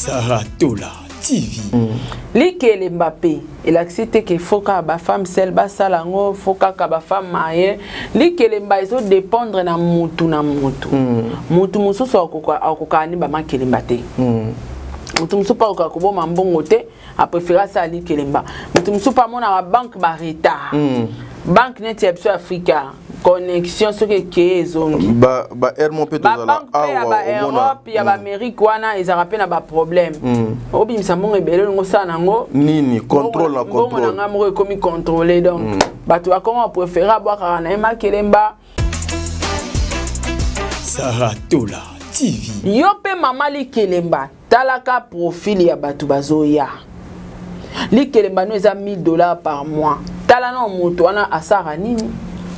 Sarah Tola TV. Mm. Likele Mbappé elakisi te ke faut kaka ba femme seule basala yango faut kaka ba femme maye likele mba ezo dépendre na mutu na mutu mm. mutu mosusu akokaa ni bamakelemba te mm. mutu mosusu mpe akokaa koboma mbongo te a préfère asala nini kelemba moto mosusu mpe amonaka banque ba retard mm. banque neti ya biso afrika connexion soki ekeye ezongi baere mo mpe tozalabanke ya baeurope ya baamérique hmm. wana ezalaka mpe na baproblème hmm. obimisa mbongo ebele olingo osala nango nini contrôle na contrôle na ngai moko ekomi contrôle donc hmm. bato bakoma bapréféré abwakaka na ye makelemba saratola tv yo mpe mama likelemba talaka profil ya bato bazoya likelemba no eza 1000 dollars par mois tala na moto wana asara nini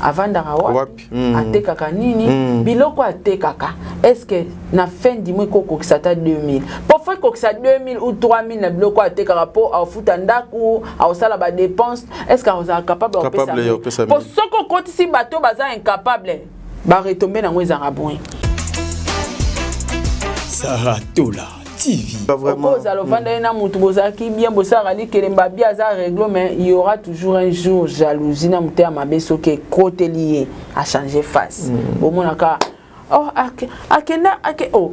avandaka wapi mm. atekaka nini mm. biloko atekaka eske na fin du mois ekokokisa ata 2000 mpo fo ekokisa 2000 ou 3000 na biloko atekaka mpo aofuta ndako aosala badépense eske akozala capable ya kopesa mpo soki okotisi bato baza incapable ba retomber nango ezanga bon Sarah Tola TV. Okozala ofandaki na motu bozalaki bien bosalaka likelemba bia aza reglo mais il y aura toujours un jour jalousie na motema mabe soki ekoteli ye achange face mm. bomonaka oh, akenda ake oh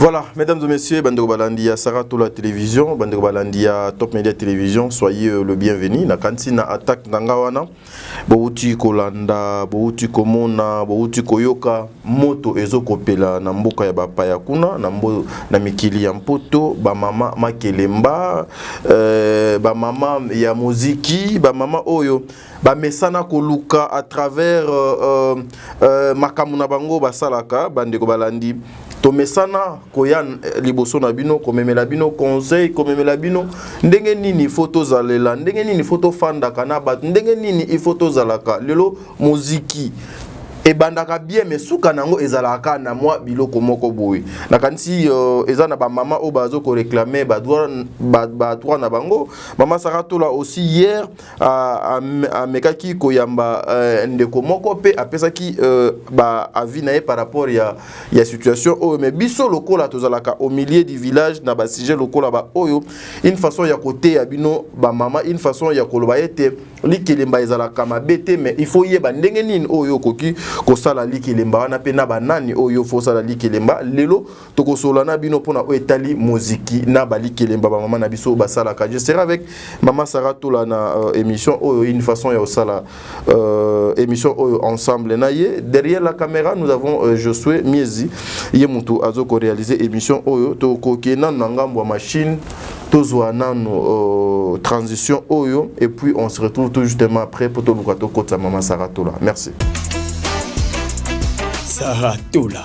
Voilà, mesdames et messieurs, bandeko balandi ya Sarah Tola Télévision, bandeko balandi ya Top Media Télévision, soyez euh, le bienvenu. Na kanti na attaque nanga wana, bowuti kolanda, bowuti komona, bowuti koyoka moto ezo kopela na mboka ya bapaya kuna, na mbo, na mikili ya Mpoto, ba mama makelemba, euh, ba mama ya muziki, ba mama oyo bamesana koluka à travers euh, euh, euh, makambo na bango basalaka bandeko balandi tomesana koya liboso na bino komemela bino conseil komemela bino ndenge nini ifo tozalela ndenge nini ifo tofandaka na bato ndenge nini ifo tozalaka lelo moziki ebandaka bien me suka na yango ezalaka kaka na mwa biloko moko boye nakanisi uh, eza na bamama oyo bazo koreklame badroit ba, ba na bango mama saratola aussi hier amekaki koyamba euh, ndeko moko mpe apesaki euh, ba avis na ye par rapport ya, ya situation oyo mais biso lokola tozalaka au milieu du village na basujet lokola baoyo une façon ya koteya bino bamama une façon ya koloba ete likelemba ezalaka mabe te mais il faut yeba ndenge nini oyo okoki kosala likelemba wana mpe na banani oyo fo osala likelemba lelo tokosolola na bino mpona oyo etali moziki na bali kelemba bamama na biso basalaka je serai avec mama sara tola na euh, émission oyo une façon ya kosala euh, émission oyo ensemble na ye derrière la caméra nous avons euh, josue miezi ye motu azo korealize émission oyo tokoke nanu na ngambo ya machine tozwa nanu euh, transition oyo et puis on se retrouve tout justement après mpo toluka tokotisa mama sara tola merci sara tola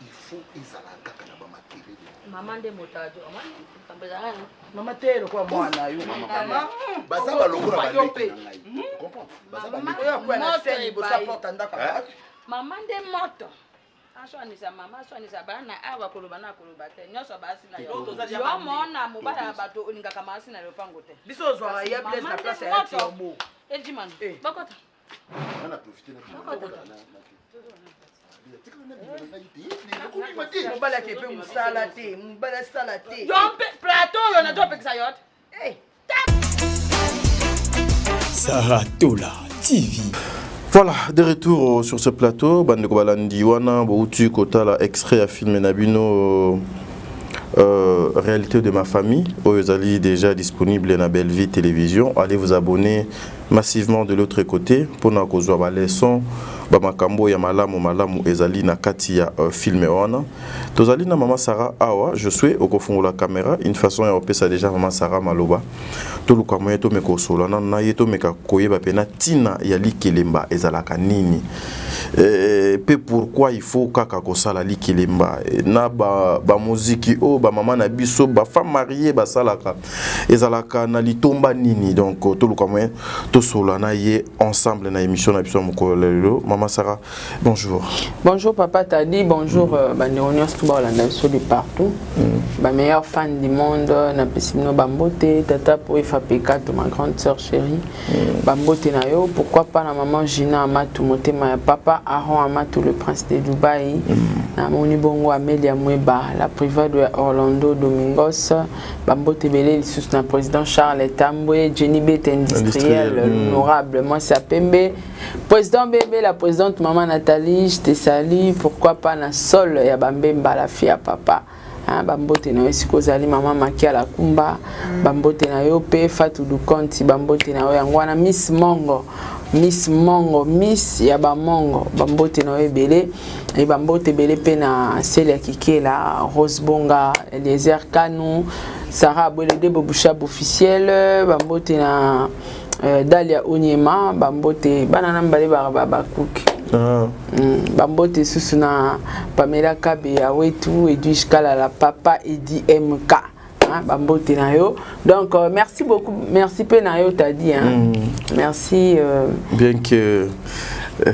il faut ezala kaka na bamakelele mama nde motato mama te lokola mwana yo baza balokola baleki na ngai mama nde moto aswanisa mama aswanisa bana awa koloba na koloba te nyonso basi na yo omona mobala ya bato olingaka maasi na lopango te biso ozwaka ya place na place ya tiombo ejimana bakota nga na profite na mobali ake mpe mosala te mobali asala te yo mpe plateau oyo nato apekisa yo te eh. Sarah Tola TV. Voilà, de retour euh, sur ce plateau, bande balandi wana bouti kotala extrait à film nabino euh, euh, réalité de ma famille, oyo ezali déjà disponible na Bellevue Télévision. Allez vous abonner massivement de l'autre cote pona kozua ba leçons ba makambo ya malamu malamu ezali na kati ya film wana tozali na maman Sarah awa Josue okofungola camera une façon ya opesa dejà maman Sarah maloba toluka moyen tomeka kosolola nanu na ye tomeka koyeba pena tina ya likelemba ezalaka nini eh, pe pourquoi il faut kaka kosala likelemba na ba, ba muziki oyo ba mama na biso ba femme marie basalaka ezalaka na litomba nini donc toluka moyen tosolola na ye ensemble na émission na biso ya mokolo lelo mama sara bonjour bonjour papa tadi bonjour mm. Euh, bandeko nyonso to bakolanda biso de partout mm. bameilleur fan du monde napesi bino bambote tata po efapeka to ma grande sœur chérie mm. bambote na yo pourquoi pas na maman gina amatu motema ya papa aron amatu le prince de dubai mm. namoni bongo amelia mweba la privado ya orlando domingos bambote ebele lisusu na président charles tambwe jenny bet industriel hmm. honorable mwasi ya pembe président bebe la présidente mama nathalie je te salie pourquoi pas na sol ya bambemba la fille ya papa hein, bambote na yo esika ozali mama maki ya lakumba hmm. bambote na yo mpe fatu dukonti bambote na yo yango wana miss mongo miss mongo miss ya bamongo bambote na yo ebele e bambote ebele mpe na celia kikela rose bonga eliezer kanu sara abwelede bobushab officiel bambote na euh, dalia onyema bambote bana na mibale bakuki ah. mm, bambote susu na pamela kabe ya wetu edwige kalala papa edi mk Hein, ba mbote na yo. Donc euh, merci beaucoup, merci pe na yo t'as dit hein. Mm. Merci euh... bien que euh,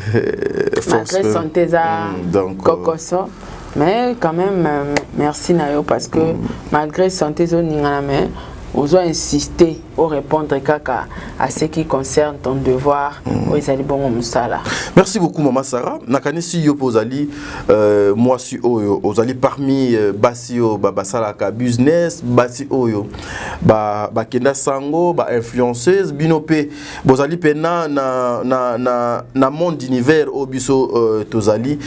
malgré santé za mm, donc euh, kokoso mais quand même euh, merci na yo parce que mm. malgré santé zo ningana mais ozo insister o répondre kaka à ce qui concerne ton devoir mm. oyo ezali bongo mosala merci beaucoup mama sara nakanisi yo mpe ozali euh, mwasi oyo ozali parmi euh, basi oyo basalaka business basi oyo bakenda ba sango bainfluenceuse bino mpe bozali mpe na, na, na, na, na monde univers oyo biso euh, tozali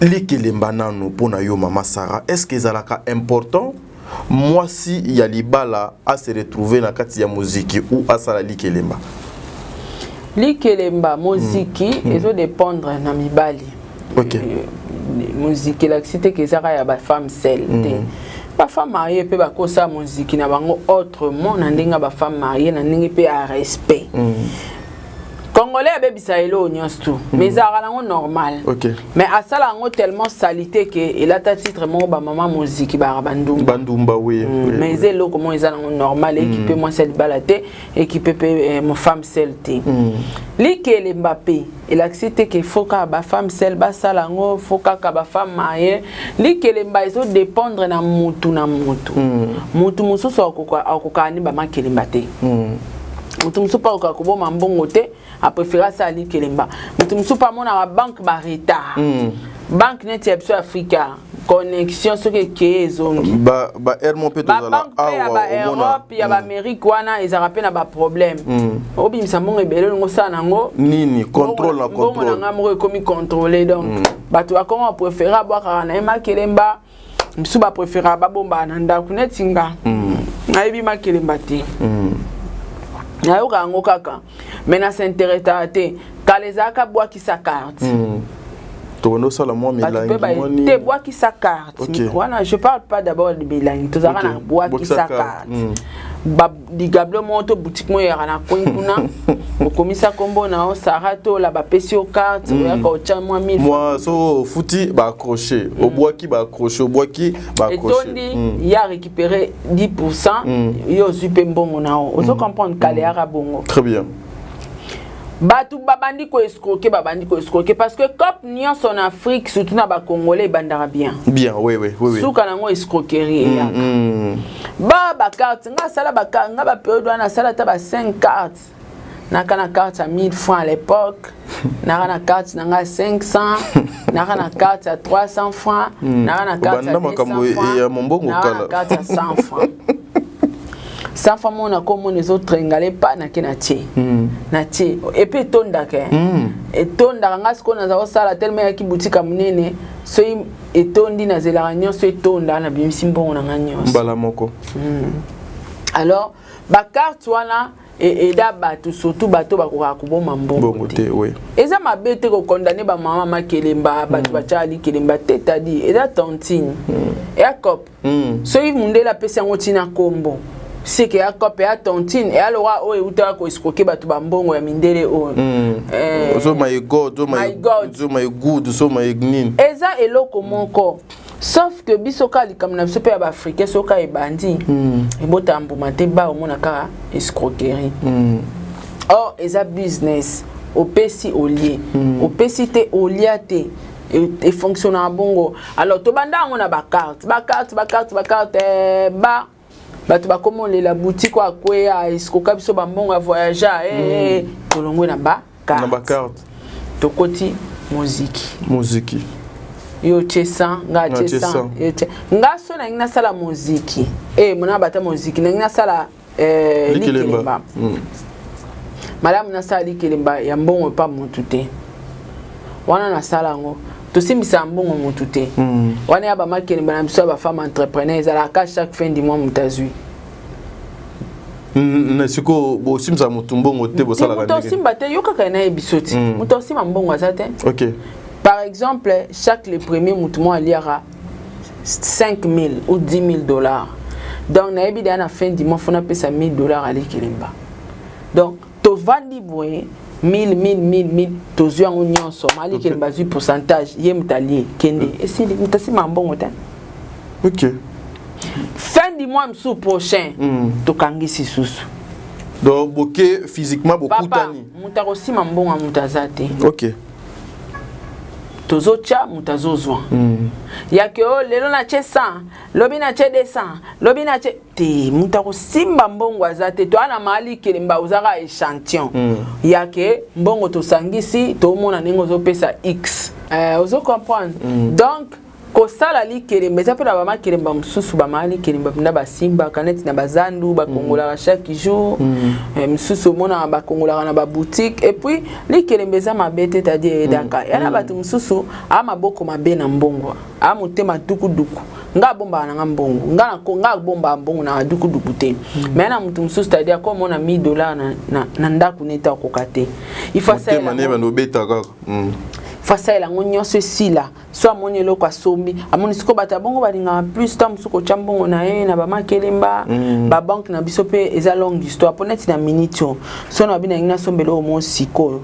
likelemba nano mpo na yo mama sara est ce que ezalaka important muasi ya libala a se retrouver na kati ya moziki ou asala likelemba? Likelemba moziki mm. ezo dépendre na mibali. OK. Euh, moziki elakisi te kezaka ya ba femme seule te. Mm. bafemme marie mpe bakosa moziki na bango autrement na ndenge ya bafemme marie na ndenge mpe ya respect mm. congolais abebisa eloo nyonso tu mm. mais ezalaka nango normal okay. mais asala yango tellement salite ke elata titre moko bamama moziki baka bandumba bandumba oui, mm. oui mais eza oui. eloko moko eza nango normal ekipe mm. mwasi ya libala te ekipe mpe eh, femme sel te mm. likele mbape elakisi te ke fo kaka bafemme sel basala yango fo kaka bafemme maye likelemba ezo dépendre na mutu na mutu mm. mutu mosusu akokaka ni bamakelemba te mm. moto mosusu mpe akoka koboma mbongo te aprefere asala likelemba moto mosusu mpe amonaka banke baretard mm. banke neti ya biso afrika connexion soki ekeye ezongi baermo mpe tozala awa baeurope ya baamérique mm. wana ezalaka mpe na baproblème mm. obimisa mbongo ebele olingo osala nango nini contrôle na contrôle mbongo na ngai moko ekomi contrôle donc mm. bato bakoma préféré abwakaka na ye makelemba bisu ba prefera ba bomba na ndaku neti nga mm. nayebi makelemba te mm. nayoka yango kaka mais na s'interesa te kala ezalaka bwakisa carte mm. tokondo sala mwa milangi moni te bwakisa carte okay. wana je parle pas d'abord de milangi tozalaka okay. na bwakisa carte mm. ligable moko to boutique moko eyaka na coin kuna okomisa nkombo na yo sara tola bapesi yo carte mm. oyaka otya mwa mil mwa so ofuti baacroche mm. obwaki baacroche obwaki baacrochetondi mm. ye arécupere 10 pourcent ye ozwi mpe mbongo na yo ozo comprendre kale yaka bongo très bien bato babandi koescroke babandi koescroke parce que cope nyonso na afrique surtout na bacongolais ebandaka bien bien oui, oui, oui, oui. suka nango escroquerie eyaka mm, mm. ba ba carte nga asala ba nga ba periode wana asala ata ba 5 cartes naka na carte ya 1000 francs à l'époque naka na carte na nga 500 naka na carte ya 300 francs hmm. naka na carte ya 200 francs ya mombongo kala naka na carte ya 100 francs safa mo na ko mona ezo trengale pa na ke na tie hmm. na tie et puis etondaka hmm. etondaka nga sikoyo naza kosala tellement yaki boutique ya monene soki etondi nazelaka nyonso etonda nabimisi mbongo na ngai nyonso mbala moko mm. alors bakarte wana e, eda bato surtout bato bakokaka koboma mbongo te oui. eza mabe te kokondane bamama makelemba bato mm. batyaka likelemba te tadi eza tantine mm. yakop mm. soki mundele apesi yango ntina nkombo seke ya cope ya tontine eya lokola oyo eutaka koescroke bato bambongo ya mindele oyo hmm. eh. ozo my god ozo my good ozo my nini eza eloko moko sauf que biso kaka likambo na biso mpe ya baafricain soki kaka ebandi hmm. ebotaka mbuma te ba omona kaka escroquerie hmm. or eza business opesi olie opesi te olia te e fonctionnaka bongo alors tobanda yango na bacarte bacarte bacarte bacarte eh, ba bato bakoma olela butike oyo akweya esikoka biso bambongo ya voyagea eh, mm. eh, tolongwe na bacarte tokoti moziki moziki yo otie 100 nga atie 100 nga so nangi nasala moziki e mona bata moziki nangi nasala eh, likelemba mm. malamu nasala likelemba ya mbongo epa motu te wana nasala yango tosimbisaka mbongo motu te mm. wana ya bamakelemba na biso ya bafemme entrepreneur ezalaka chaque fin du mois moto azwi na sikoyo bosimbisa motu mbongo te bosalaka moto osimba te yokaka na ye biso ti moto osimba mbongo aza te par exemple chaque le premier motu moko aliaka 5000 ou 10000 dollars donc nayebi deya na fin du mois fo napesa 1000 dollars alekelemba donc tovandi boye 1000 1000 1000 tozwi yango nyonso malekelemba azwi pourcentage ye moto alie kende mm. esili moto asima mbongo te okay. fin du mois mosusu prochain mm. tokangisi susu donc boke physiquement bokutani moto akosima mbongo ya moto aza te okay. tozotya moto azozwa mm. ya ke oyo oh, lelo natye 100 lobi natye 200 lobi natye te moto akosimba mbongo aza te toa na maali kelemba ozaka échantillon mm. ya ke mbongo tosangisi tomona ndenge ozopesa x euh, ozo comprendre mm. donc kosala likelemba eza mpe na bama kelemba mosusu bamaya likelemba mpenza basimbaka neti na bazandu bakongolaka mm. chaque jour mm. eh, mosusu omonaka bakongolaka na baboutique epuis likelemba eza mabe te tadi eyedaka mm. yana bato mosusu a maboko mabe na mbongo a motema dukuduku nga abombaka nanga mbongo nga nako nga abombaka mbongo na dukuduku te hmm. mais na mutu mosusu tadi ako mona 1000 dollars na, na, na ndako neti akoka te ifasaela yango nyonso esila so amoni eloko asombi amoni sikoyo bato ya bongo balingaka plus ntango mosusu kotya mbongo na ye na bamakelemba mm. babanke na biso mpe eza longue histoire mpo neti na minute oyo so na babi nalingi nasomba eloko moko sikoyo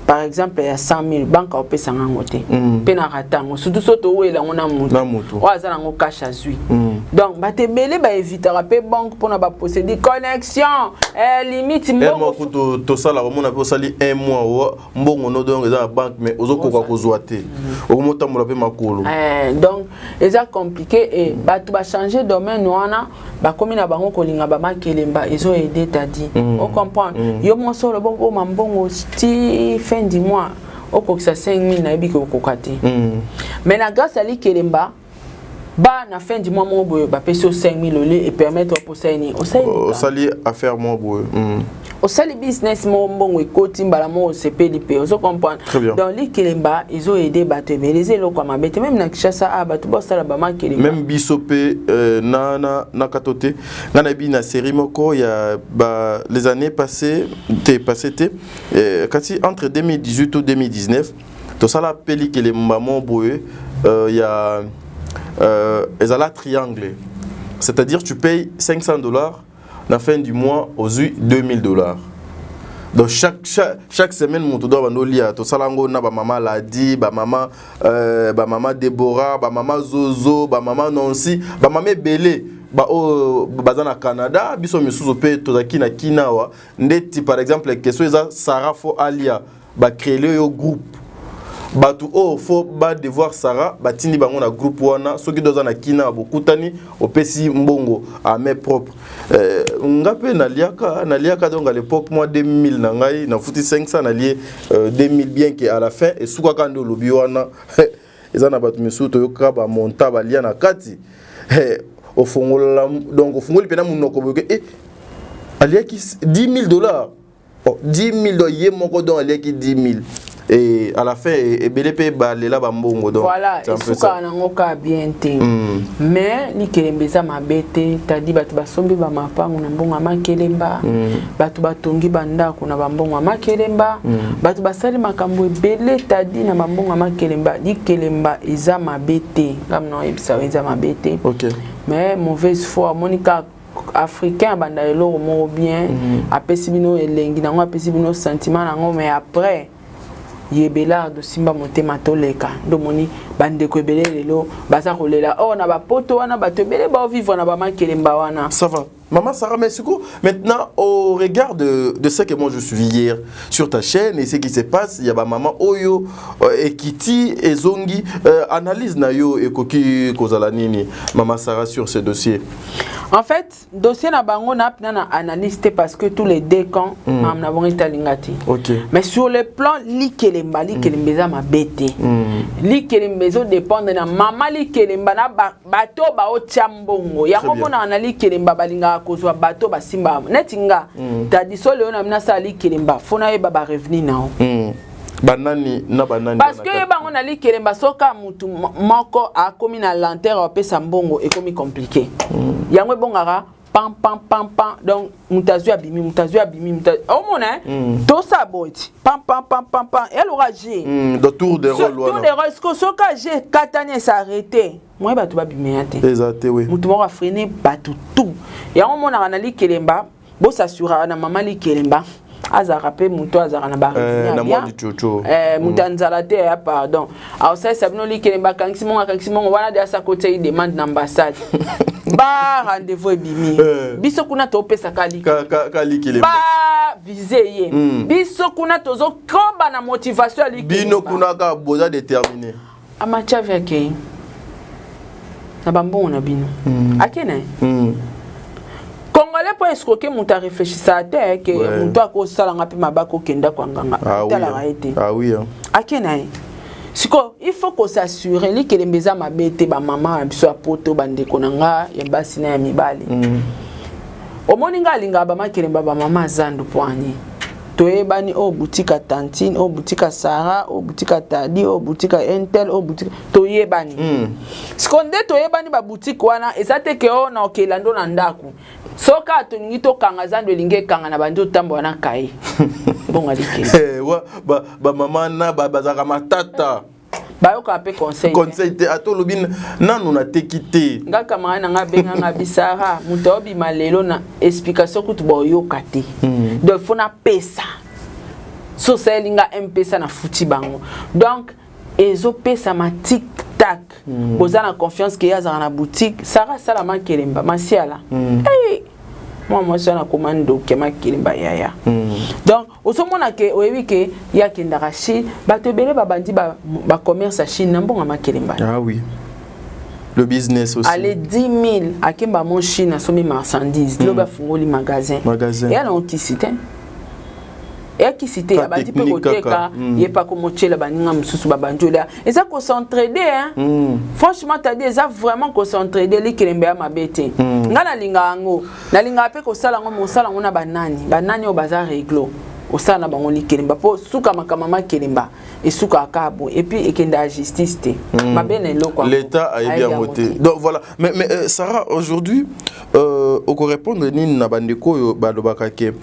par exemple ya 100 000 banke akopesa nga yango te mm. mpe na rata yango surtout so towela yango na moto oyo aza nango cash azwi mm. donc bato ebele baevitaka mpe banke mpona baposedi connexion eh, limite mbongo tosala komona mpe osali un mois mbongo no donc eza na banque mais ozokoka kozwa te mm. okomotambola mpe makolo eh, donc eza compliqué e bato bachange domaine wana bakomi na bango kolinga bamakelemba ezo aide tadi mm. o comprendre mm. yo monso olobi okoma mbongo ti fin du mois okokisa 5000 nayebi kokoka te mais na grâce ya likelemba ba na fin du mois moko boye bapesi yo 5000 olie epermettre oposai nini osali affaire moko boye hmm. osali business moko mbongo ekoti mbala moko osepeli mpe ozo comprendre donc likelemba ezo aide bato ebele eza eloko ya mabe te meme na kinshasa a ah, bato baosala bamakelemba meme biso mpe euh, na, na, na kato te ngai nayebi na série moko ya ba, les années passées te passé te euh, kasi entre 2018 ou 2019 tosala mpe likelemba moko boye euh, ya euh, ezala triangle c'est-à-dire tu payes 500 dollars na fin du mois ozwi 2000 dollars donc chaque, chaque, chaque semaine moto doa bando lia tosala yango na bamama ladi bamama euh, bamama debora bamama zozo bamama nansi bamama ebele baoyo baza na canada biso misusu mpe tozalaki na kina awa ndeti par exemple question eza sara fo alia ba créer yo groupe bato oyo fo ba devoir sara batindi bango na groupe wana soki doza na kina bokutani opesi mbongo à main propre euh, nga mpe naliaka naliaka donc à l'époque mwa 2000 na ngai nafuti 500 nalie euh, 2000 bien que à la fin esukaka nde olobi wana eza na bato misusu toyokaka bamonta balia na kati eh, ofongola donc ofungoli mpe na monoko boyoke e eh, aliaki 10 000 dollars oh, 10000 donc ye moko donc aliaki 10000 et à la fin ebele mpe balela bambongo donc voilà esukaka nango kaka bien te mm. mais likelemba eza mabe te tadi bato basombi bamapango na mbongo ya makelemba mm. bato batongi bandako na bambongo ya makelemba mm. bato basali makambo ebele tadi na bambongo ya makelemba likelemba eza mabe te ngamna oyebisa eza mabe te okay. mais mauvaise foi amoni kaka africain abanda eloko moko bien mm. apesi bino elengi nango apesi bino sentiment nango mais après ye belard osimba motema toleka ndomoni bandeko ebele lelo baza kolela or oh, na bapoto wana bato ebele baovivre na bamakelemba wana ça va Maman Sarah Messuko, maintenant au regard de, de ce que moi je suis hier sur ta chaîne et ce qui se passe, il y a ma maman Oyo, euh, Ekiti et Zongi, euh, analyse nayo et Koki Kozala Nini, Maman Sarah sur ce dossier. En fait, dossier na bango na pna na analyse te parce que tous les deux camps mm. mam na bango etalinga te. OK. Mais sur le plan likelemba likelemba eza mabe te. Mm. Likelemba ezo dépendre na mama likelemba na ba, bato ba otia mbongo. Yango mona na likelemba balingaka kozwa bato basimba. Neti nga mm. tadiso leo na mina sala likelemba fona yeba ba revenu nao. Mm. banani na banani parce que ye bango nali kelemba soka mutu moko akomi na lenteur apesa mbongo ekomi compliqué mm. yango ebongaka pam pam pam pam donc moto azwi abimi moto azwi abimi moto omona mm. tosa boye ti pam pam pam pam pam elora je mm, de tour de rôle wana tour de rôle siko soki aje ekatani esarrete moye bato babima ya te eza te oui moto moko afrene bato tout yango omonaka na likelemba Bo s'assura na maman Likelemba azalaka mpe moto azalaka na bareunion eh, moto ya nzala te ya pardon aosalisa bino likelemba akangisi mongo akangisi mongo wana de asakotia ye demande na ambassade ba rendez-vous ebimi eh. biso kuna topesaka likelemba vise ye hmm. biso kuna tozokoba na motivation ya likelemba bino kuna kaka boza determine Amachavi akei na bambongo na bino mm. akei na ye mm. congolais mpo esikoke moto areflechisaka te ke ouais. moto akosala nga mpe mabaka okenda kwa nganga ah, otalaka oui. ye te ah, oui. akei na ye sikoyo il faut kosassure likelemba eza mabe te bamama ya biso ya poto bandeko na nga ya basi na ya mibali mm. omoni nga alingaka bamakelemba bamama zandu poani toyebani oyo boutique ya tantine oyo boutique ya sara oyo boutique ya tadi oyo boutique ya intel oyo boutique toyebani mm. siko nde toyebani baboutique wana eza te ke oyo na okela ndo na ndako soki awa tolingi tokanga zando elingi ekanga na bandi otambola na kaye bongo alikeli bamama na bazalaka matata bayoka mpe conseil conseil te ata olobi nanu nateki te nga camarade na nga abenga nga bisara moto aobima lelo na explication kutu baoyoka te hmm. donc fo napesa so osaleli nga mpesa na futi bango donc ezopesama tik tak hmm. boza na confiance ke ye azalaka na boutique sara asala makelemba masiala hmm. hey! mwa mwasi wana akoma ndoki ya makelemba yaya donc ozomona ke oyebi ke ye akendaka chine bato ebele babandi bacommerce ba ya chine na mbonga makelemba ah, oui. le business aussi ale 10 000 akemba mo chine asombi marchandise mm. lobi afungoli magasin magasin eya nango kisi te eya kisi te abandi mpe koteka mm. ye mpe akomotyela baninga mosusu babandi olya eza kocentrede mm. franchement tadi eza vraiment kocentrede likelembe ya mabe te mm. ngai nalingaka yango nalingaka mpe kosala yango me osala yango na banani banani oyo baza reglo osala na bango likelemba mpo suka makambo ma kelemba esukaka kaka boye epuis ekendaka justice te mm. mabe na eloko l'état ayebi yango te donc voilà mais, mais euh, sarah aujourd'hui euh, okorépondre nini na bandeko oyo balobaka ke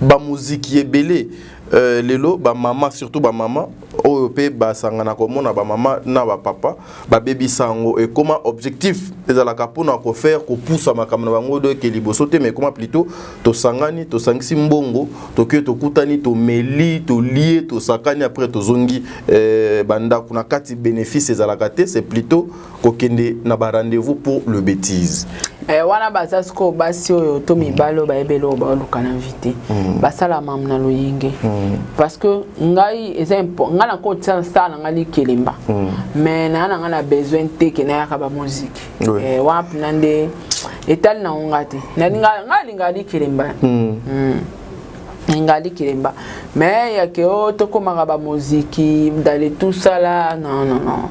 bamoziki ebele euh, lelo bamama surtout bamama oyo mpe basangana komona bamama na bapapa babebisa yango ekoma objectif ezalaka mpona kofaire kopusa makambo na bango doyeke liboso te ma ekoma plutôt tosangani tosangisi mbongo toke tokutani tomeli tolie tosakani après tozongi eh, bandako na kati bénéfice ezalaka te c'est plutôt kokende na barendez-vous pour le bétise Eh, wana baza sikoyo basi oyo to mibali oyo bayebi eloko baoluka na vi te mm. basala mamu na loyenge mm. parce que ngai eza ngai nako sala na ngai likelemba mm. mais naa na ngai na besoin te ke nayaka bamoziki eh, wana mpena nde etali na ngonga te ngai alingaka likelemba ngai likelemba mais yake o oh, tokomaka bamoziki dale tusala non non non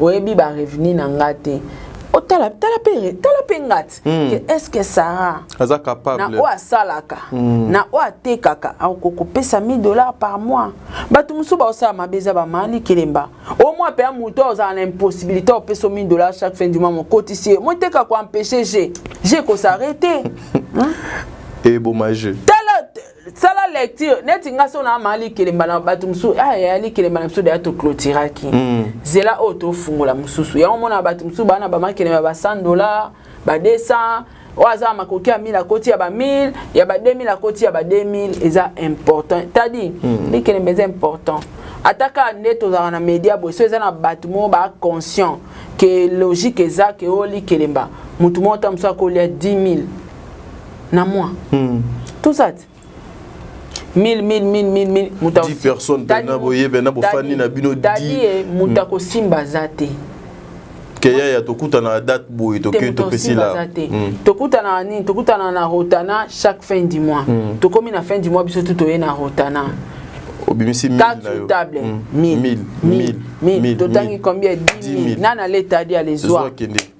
oyebi ba revenu na nga te otala tala pe tala pe ngati mm. que est-ce que Sarah aza capable na oyo asalaka mm. na oyo atekaka akokopesa 1000 dollars par mois bato mosusu baosala mabe eza bamani kelemba o mwa mpe ya moto ozala na impossibilité opesa 1000 dollars chaque fin du mois mokotisi ye moteka koempeshe je je kosarete eboma je sala lecture neti nga so na mali kelemba na bato mosusu ah, ya yali kelemba na biso deya toclotiraki mm. zela oyo tofungola mosusu yango omona bato mosusu baa na bamakelemba ba 100 dollar ba 200 oyo aza makoki ya 1000 akoti ya ba 1000 ya ba 2000 akoti ya ba 2000 eza important tadi mm. likelemba eza important ata kaka nde tozalaka na media boye so eza na bato moko ba conscient ke logique eza ke oyo likelemba motu moko ta mosusu akolia 10 000 na moi hmm. tout ça 1000 1000 1000 1000 moto 10 personnes mpe na boye mpe na bofandi na bino dadie moto hmm. akosimba aza te keya ya tokutana na date boye toke topesi la hmm. tokutana na nini tokutana na rotana chaque fin du mois hmm. tokomi na fin du mois biso tu toye na rotana obimisi table 1000 1000 1000 totangi combien 10000 nana leta adi alezwa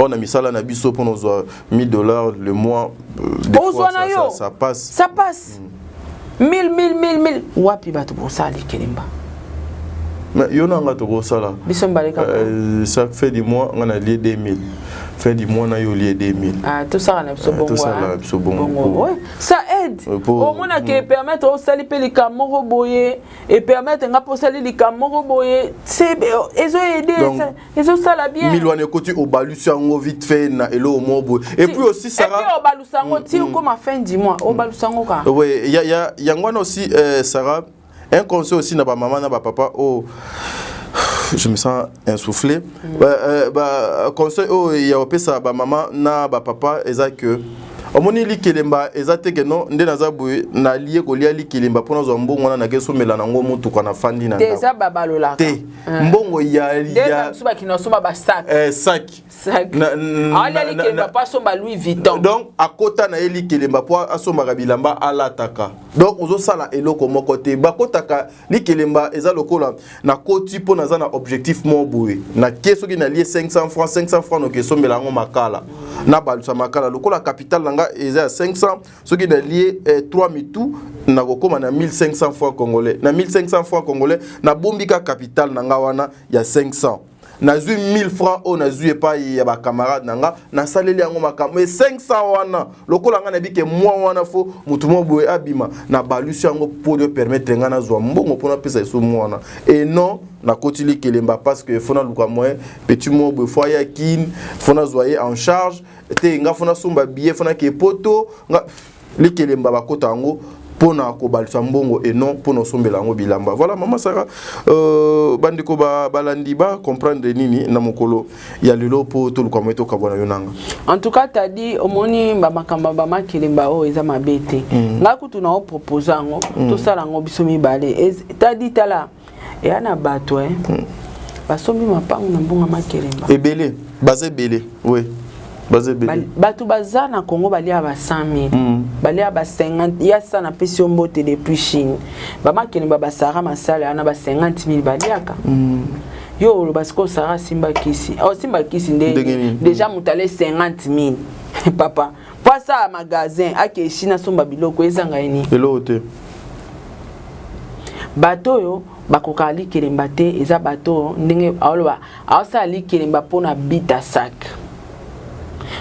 Oh, na misala na biso mpo nozwa 1000 dollars le mois euh, ozwa na yo ça passe ça passe 1000 1000 1000 1000 wapi bato bosala likelemba mais yo na nga tokosala biso mibale kaka euh, ça fait du mois nga na lie 2000 fin du mois na yo lie 2000 ah tout ça na biso euh, bongo tout ça na hein. biso bongo ouais ça aide euh, au moins na que mm. permettre au sali pe likambo moko boye et permettre nga posali likambo moko boye c'est ezo aider ezosala bien milwana ekoti obalusi yango vite fait na eloko moko boye et puis aussi sarah et puis obalusa yango mm, ti mm. okoma fin du mois mm. obalusa yango ka oui ya ya yango wana aussi euh, sarah un conseil aussi na ba maman na ba papa oh je me sens insoufflé mm. euh, euh, ba conseil oh ya opesa ba maman na ba papa eza que omoni likelemba eza te keno nde naza boye nalie kolia likelemba mpo nazwa mbongo wana nake somela nango motuka na fandi na te Eh. mbongo ya ya suba kino somba ba sac eh sac sac ala likemba pa somba Louis Vuitton donc akota na ye likelemba po asombaka bilamba alataka donc ozo sala eloko moko te bakotaka likelemba eza lokola na koti po naza na objectif mo boye na ke soki na lie 500 francs 500 francs noke sombela yango makala na balusa makala lokola capital na nga eza ya 500 soki nalie eh, 3 mitu nakokoma na 1500 fois congolais na 1500 fois congolais nabombi ka capital na nga wana ya 500 nazwi 1000 francs oyo nazwi epai ya bacamarade na nga nasaleli yango makambo e 500 wana lokola ngai nabike mwa wana fo motu moko boye abima nabalusi yango mpo de permettre ngai nazwa mbongo mpo napesa esu mwa wana e non nakoti likelemba parce que fo naluka moyen petit moko boye fo aya kin fo nazwa ye en charge te nga fona somba billet fona ke poto nga likelemba bakota yango mpo na kobalisa mbongo et non mpo na osombela yango bilamba voilà mama sara euh, bandeko balandi ba bacomprendre nini na mokolo ya lelo mpo toluka moye tokabwana yo nanga en tout cas tadi omoni bamakambo ya bamakelemba oyo eza mabe te mm. ngai kutu na opropose yango mm. tosala yango biso mibale tadi tala eya na bato eh. hmm. basombi mapango na mbongo ya makelemba ebele baza ebele oui baza ebele bato baza na congo baliaka ba 100 000 mm. baliaka ba 50 ya sa napesi yo mbote depuis chine bamakelemba basara masala wana ba 50 000 baliaka mm. yo oloba sikoyo sara asimba kisi osimba oh, kisi nde deja moto ale 50 000 papa po asala magasin ake chine asomba biloko ezanga ye nini eloko te bato oyo bakokaka likelemba te eza bato oyo ndenge aoloba aosala likelemba mpo na bit a sac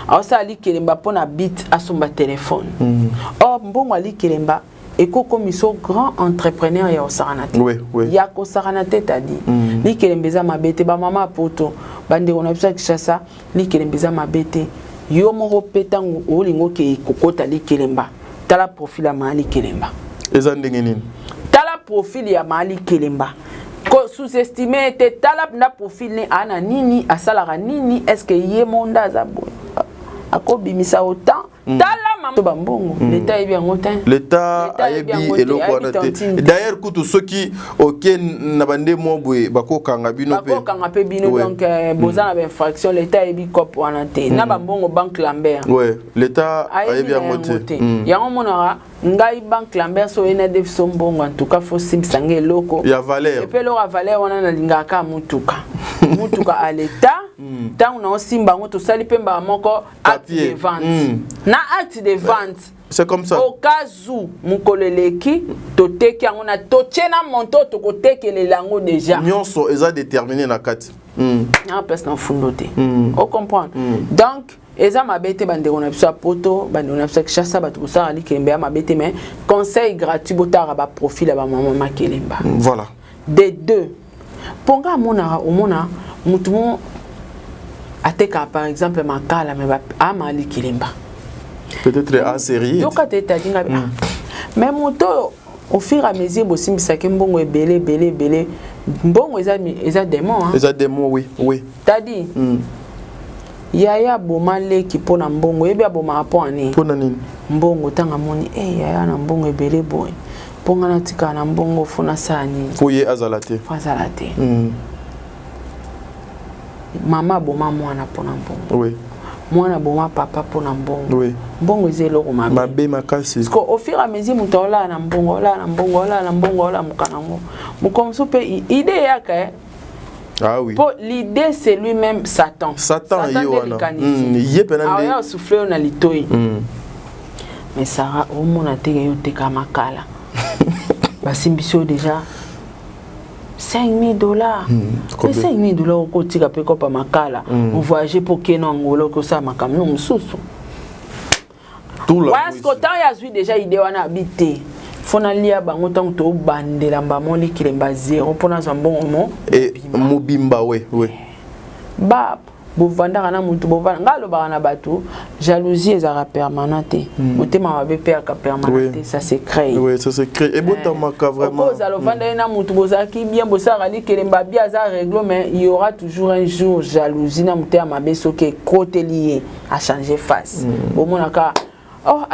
aosala likelemba mpo na bit asomba telefone mm. or mbongo ya likelemba eko komiso grand entrepreneur ya osakana te oui, oui. ya kosakana te tadi mm. likelembe eza mabe te bamama poto bandeko na biso ya kinshasa likelembe eza mabe te yo moko mpe ntango olingi okei kokota likelemba tala profil ya maa likelemba eza ndenge nini tala profil ya maa likelemba sous-estime ete tala na profil ne ana nini asalaka nini est ce que ye monda aza boye akobimisa autant Mm. tala mama ba mbongo mm. leta ayebi yango te leta ayebi eloko wana te d'ailleurs kutu soki oke na bande mwa boye bakokanga bino mpe bakokanga mpe bino donc euh, mm. boza na bainfraction leta ayebi cop wana te na bambongo banque lambert ouais leta ayebi yango te yango monaka ngai banque lambert so oyena defi so mbongo en tout cas fo simbisa ngai eloko ya valeur epe eloko ya valeur wana nalingaka kaka motuka motuka a leta ntango na osimba yango tosali mpe mbala moko acte de vente mm. na acte de vente c'est comme ça au cas où mokolo eleki toteki yango na totye na monto tokotekelela yango déjà nyonso eza déterminé na kati mm. na place na mfundo te mm. o comprendre mm. donc eza mabe te bandeko na biso ya poto bandeko na biso ya kinshasa bato kosala likembe ya mabe te mais conseil gratuit botala baprofil ya bamama makelemba voilà des deux Ponga amonaka omona mutu mo ateka par exemple makala me ama ali kilemba. Peut-être a série. Yoka te tadi nga. Hmm. Mais moto oyo au fur et à mesure bosimbisaki mbongo ebele ebele ebele mbongo eza eza démon hein. Eza démon oui oui. Tadi. Mm. Yaya aboma leki mpo na mbongo yebi abomaka mpo na nini? Mpo na nini? Mbongo ntango amoni e eh, yaya na mbongo ebele boye mpo ngai natikala na mbongo fo nasala nini mpo ye azala te fo azala te mm. mama aboma mwana mpo na mbongo oui. mwana aboma papa mpo na mbongo oui. mbongo eza eloko mabe mabe makasi parce au fur et à mesure moto aolala na mbongo aolala na mbongo aolala na mbongo aolala moka nango mokomosu mpe ide eyaka eh? Ah oui. Po l'idée c'est lui-même Satan. Satan, Satan ye wana. Mm, ye pena nde. Aya souffler na litoyi. Mm. Mais Sarah omona te yo te kama kala. Basimbi so déjà 5000 dollars. Mm, Mais 5000 dollars oko tika pe kopa makala. Mm. On voyager pour Keno Angola ko sa makamno mususu. wayasko ntango ye azwi deja ide wana abi te fo nalia bango ntango tobandela mbamo likilemba zero mpo nazwa mbongo mo eh, mobimba we we bab bovandaka na motu bovanda ngai alobaka na bato jalousie ezalaka permanent te hmm. motema mabe mpe yaka permanent te ça se crée ebotamaka eh. vraimentozala ovandaki na motu bozalaki bien bosalaka likelemba bia aza reglo mais il y aura toujours un jour jalousie na motema mabe soki ekoteli ye a changer face mm. bomona ka oh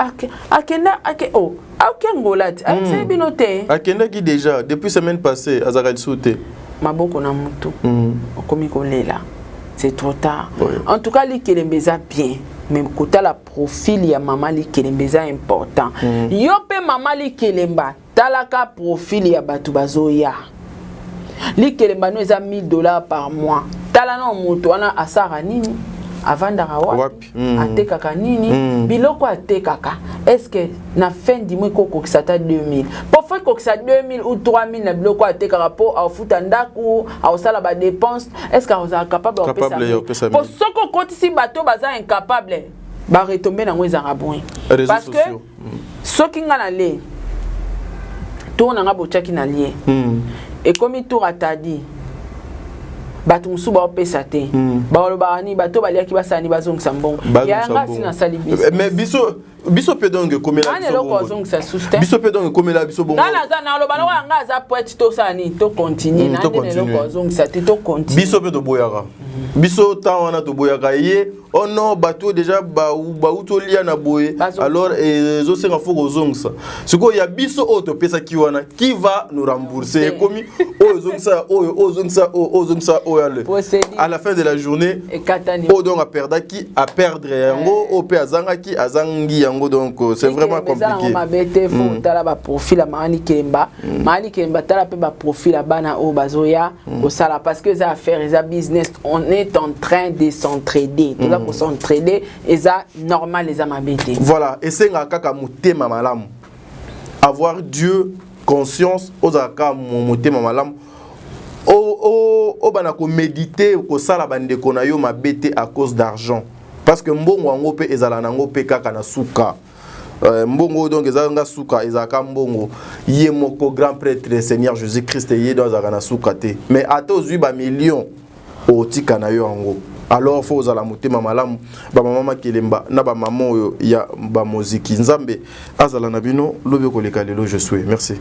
akenda ake oh ake ngola te ayebisaki ah, hmm. bino te akendaki déjà depuis semaine passée azalaka lisusu te maboko na mutu hmm. okomi kolela c'est trop tard oui. en tout cas likelembe eza bien mais kotala profil ya mama likelemba eza important mm. yo mpe mama likelemba Tala ka profil ya batu bazoya. Likelemba no eza 1000 dollars par mois. Tala na moto wana asara nini? avandaka wapi mm. atekaka nini mm. biloko atekaka eske na fin du mois ekokokisa ata 2000 po fo ekokisa 2000 ou 3000 na biloko atekaka po aofuta ndako aosala badepense eske akozala capable opesa po soki okotisi bato baza incapable baretombe nango ezalaka boye parce que soki nga na le tour na nga botyaki na lie mm. ekomi tour atadi bato mosusu baopesa te mm. baolobaka nini bato baliaki basala ni bazongisa mbongo yanga si nasali biso eh, mais biso biso mpe donc ekomela eloko azongisa susu te biso mpe donc ekomela biso bongo nga naza naloba loko yanga aza poete tosala nini tocontinue mm, na nde na eloko azongisa te tocontinue biso mpe toboyaka biso ntango wana toboyaka ye oh non bato oyo deja bauti olia na boye alors eh, ezosenga fo kozongisa sikoyo ya biso oyo topesaki wana qui va nous rembourse ekomi oyo ezongisa oyo oyo ezongisa oyo oyo ezongisa oyo ale à la fin de la journée oyo donc aperdaki aperdre yango oyo mpe azangaki azangi yango donc euh, c'est vraiment compliqué mabe te fo mm. tala baprofil ya maani kemba mm. maani kemba tala mpe baprofil ya bana oyo bazoya Mm. kosala parce que eza affaire eza business on est en train de s'entraider toza mm. kosentraider eza normal eza mabe te voilà esengaka kaka motema malamu avoir dieu conscience ozala kaka motema malamu obana komédite kosala bandeko na yo mabe te à cause d'argent parce que mbongo yango mpe ezala na yango mpe kaka na suka Euh, mbongo donc eza nga suka ezalaka mbongo ye moko grand prêtre le seigneur jésus christ ye do azalaka na suka te mais ata ozwi bamillion otika na yo yango alors fo ozala motema malamu bamama makelemba na bamama oyo ya bamoziki nzambe azala na bino lobi koleka lelo je suis merci